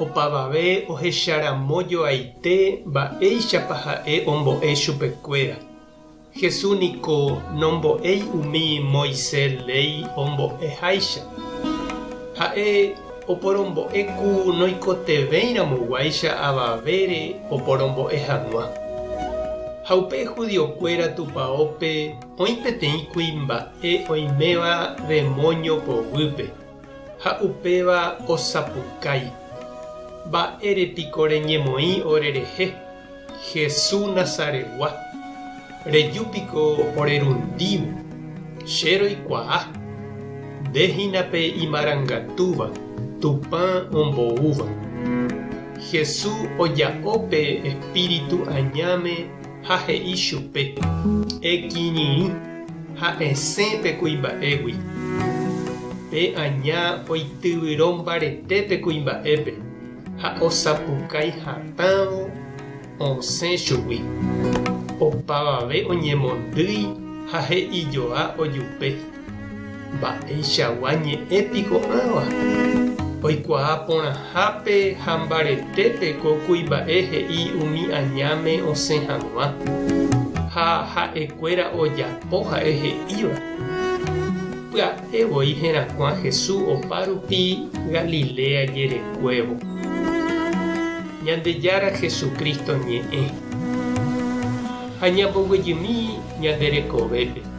Opavave ohecharamojoaite mba'éichapa ha'e ombo'e chupekuéra. Jesús niko nombo'éi umi Moisés léi ombo'eháicha. Ha'e oporombo'e ku noikotevẽiramoguáicha avavére oporombo'e hag̃ua. Ha upe judiokuéra tupaópe oĩ peteĩ kuimba'e oiméva demóño poguýpe. Ha upéva osapukái, Mba'ére piko reñemoĩ orerehe, Hesu Nazaregua? Reju piko orerundívo? Che roikuaa, nde hína pe imarangatúva, Tupã omboúva. Hesu oja'o pe Espíritu añáme ha he'i chupe, Ekirirĩ ha esẽ pe kuimba'égui. Pe aña oityvyro mbarete pe kuimba'épe ha osapukái hatãvo osẽ chugui. Opavave oñemondýi ha he'ijoa ojupe. Mba'eichagua ñe'ẽ piko ãva oikuaa porãhápe ha mbaretépe ko kuimba'e he'i umi añáme osẽ hag̃ua, ha ha'ekuéra ojapo ha'e he'íva? Pya'e voi herakuã Hesu opa rupi Galilea jerekuévo. Ñandejára Jesucristo ñe'ẽ ha ñamboguejymi ñande rekovépe.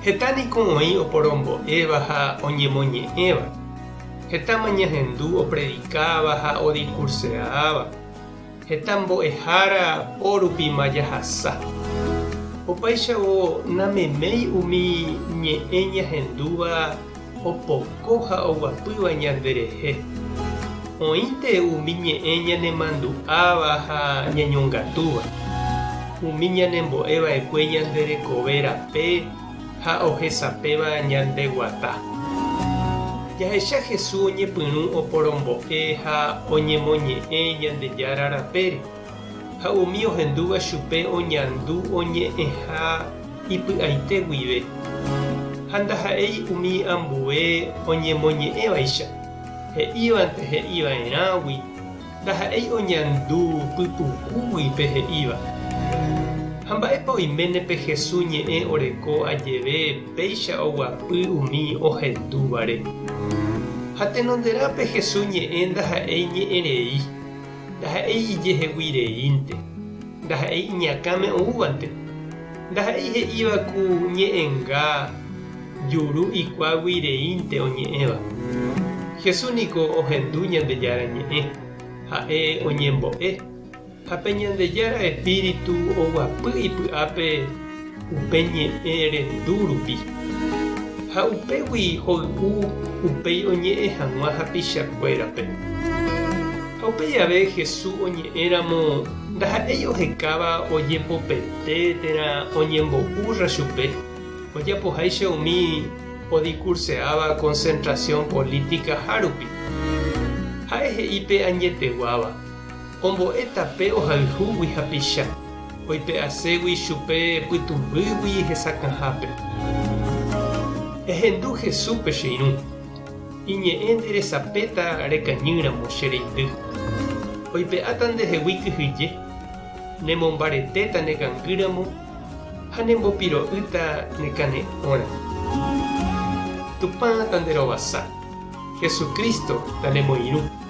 Heta niko oĩ oporombo'éva ha oñemoñe'ẽva. Hetáma ñahendu opredikáva ha odikurseaáva. Heta mbo'ehára pórupima jahasa. Opáichavo nameméi umi ñe'ẽ ñahendúva opoko ha oguapýva ñanderehe. Oĩnte umi ñe'ẽ ñanemandu'áva ha ñañongatúva, umi ñanembo'e va'ekue ñande rekove rape ha ohesapéva ñande guata. Jahecha Jesús oñepyrũ oporombo'e ha oñemoñe'ẽ Ñandejára rapére. Ha umi ohendúva chupe oñandu oñe'ẽha ipy'aite guive, ha ndaha'éi umi ambue oñemoñe'ẽvaicha, he'ívante he'iva'erãgui, ndaha'éi oñandu py'ukúgui pe he'íva. Ha mba'épa oiméne pe Jesús ñe'ẽ oreko ajeve péicha oguapy umi ohendúvare? Ha tenonderã pe Jesús ñe'ẽ ndaha'éi ñe'ẽrei. Ndaha'éi ijehegui reínte, ndaha'éi iñakãme oúvante, ndaha'éi he'íva ku ñe'ẽnga juru ikuágui reínte oñe'ẽva. Jesús niko ohendu Ñandejára Ñe'ẽ, ha'e oñembo'e, ha pe Ñandejára Espíritu oguapy ipy'ápe. upe ñe'ẽ rendu rupi, ha upégui hoy'u upéi oñe'ẽ hag̃ua hapichakuérape. Ha upe jave Hesu oñe'ẽramo ndaha'éi ohekáva ojepopete térã oñembo'úrra chupe, ojapoháicha umi odikurseáva konsentrasiõ polítikahárupi. Ha'e he'i pe añeteguáva. Ombo'e tape ohayhúgui hapicha, oipe'aségui chupe pytũmbýgui hesakãhápe. Ehendu Jesúspe che irũ. Iñe'ẽ nderesapéta rekañýramo che reindy. Oipe'áta ndehegui kyhyje, nemombaretéta ne kangýramo ha nembopiro'ýta ne kane'õramo. Tupã tanderovasa. Jesucristo tandemoirũ.